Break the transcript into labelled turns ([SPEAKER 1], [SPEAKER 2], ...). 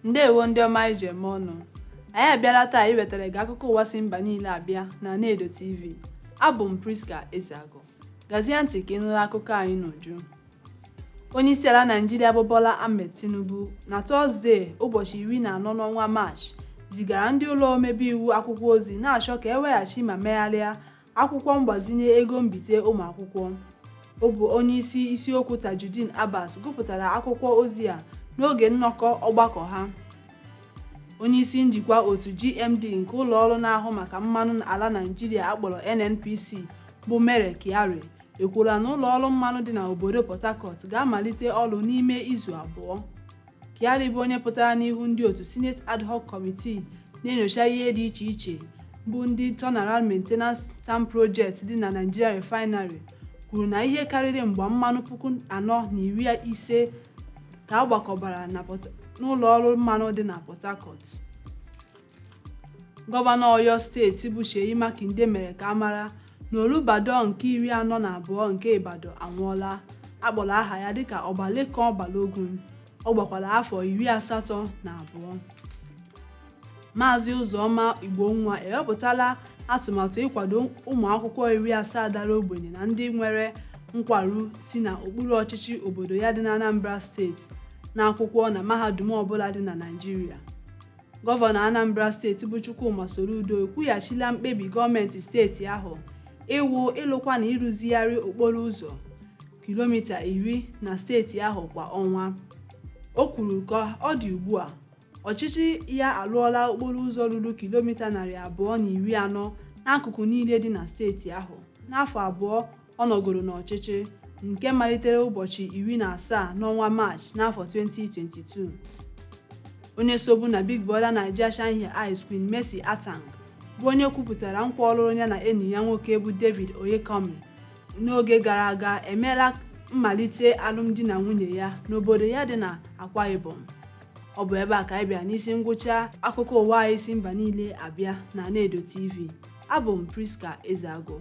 [SPEAKER 1] ndewo ndị ọma anyị ji eme ọnụ anyị abịala taa iwetara gị akụkọ ụwa si mba niile abịa na Anaedo TV abụ m Priska Ezeago gazie ntị ka ị nụrụ akụkọ anyị n'uju Onyeisiala Naịjirịa bụ Bola Ahmed Tinubu na Tọzdee ụbọchị iri na anọ n'ọnwa Maachị zigara ndị ụlọ omebe iwu akwụkwọ ozi na-achọ ka eweghachi ma megharịa akwụkwọ mgbazinye ego mbite ụmụ akwụkwọ. Ọ bụ onyeisi isiokwu Tajudeen Abbas gụpụtara akwụkwọ ozi a n'oge nnọkọ ọgbakọ ha. Onyeisi njikwa otu GMD nke ụlọọrụ na-ahụ maka mmanụ ala Naịjirịa akpọrọ NNPC bụ Mele Kyari ekwuola na ụlọ ọrụ mmanụ dị na obodo port harcourt ga-amalite ọrụ n'ime izu abụọ kyari bụ onye pụtara n'ihu ndị otu senate ad hoc committee na-enyocha ihe dị iche iche bụ ndị turnaround maintenance tam project dị na nigeria refinery kwuru na ihe karịrị mgba mmanụ puku anọ na iri ise ka a gbakọbara n'ụlọ ọrụ mmanụ dị na port harcourt gọvanọ oyo steeti bụ Seyi Makinde mere ka a mara na Olubadan nke iri anọ na abụọ nke Ibadan anwụọla akpọrọ aha ya dịka Ọba Lekan Balogun ọ gbakwara afọ iri asatọ na abụọ Maazị Ụzọma Igbonwa ewepụtala atụmatụ ịkwado ụmụ akwụkwọ iri asaa dara ogbenye na ndị nwere nkwarụ si na okpuru ọchịchị obodo ya dị n'Anambra steeti na akwụkwọ na mahadum ọbụla dị na Naịjirịa Gọvanọ Anambra steeti bụ Chukwuma Soludo ekwughachila mkpebi gọọmenti steeti ahụ iwu ịlụkwa na ịrụzigharị okporo ụzọ kilomita iri na steeti ahụ kwa ọnwa. O kwuru ka ọ dị ugbu a, ọchịchị ya alụọla okporo ụzọ ruru kilomita narị abụọ na iri anọ n'akụkụ niile dị na steeti ahụ n'afọ abụọ Ọ nọgoro n'ọchịchị nke malitere ụbọchị iri na asaa n'ọnwa Maachị n'afọ 2022. Onye sobu na Big Brother Naija Shine Ya Eyes Queen Mercy Atang bụ onye kwupụtara nkwa ọlụlụ ya na enyi ya nwoke bụ David Oyekanmi n'oge gara aga emeela mmalite alụmdi na nwunye ya n'obodo ya dị na Akwa Ibom. Ọ bụ ebe a ka anyị bịara n'isi ngwụcha akụkọ ụwa anyị si mba niile abịa na Anaedo TV. Abụ m Priska Ezeago.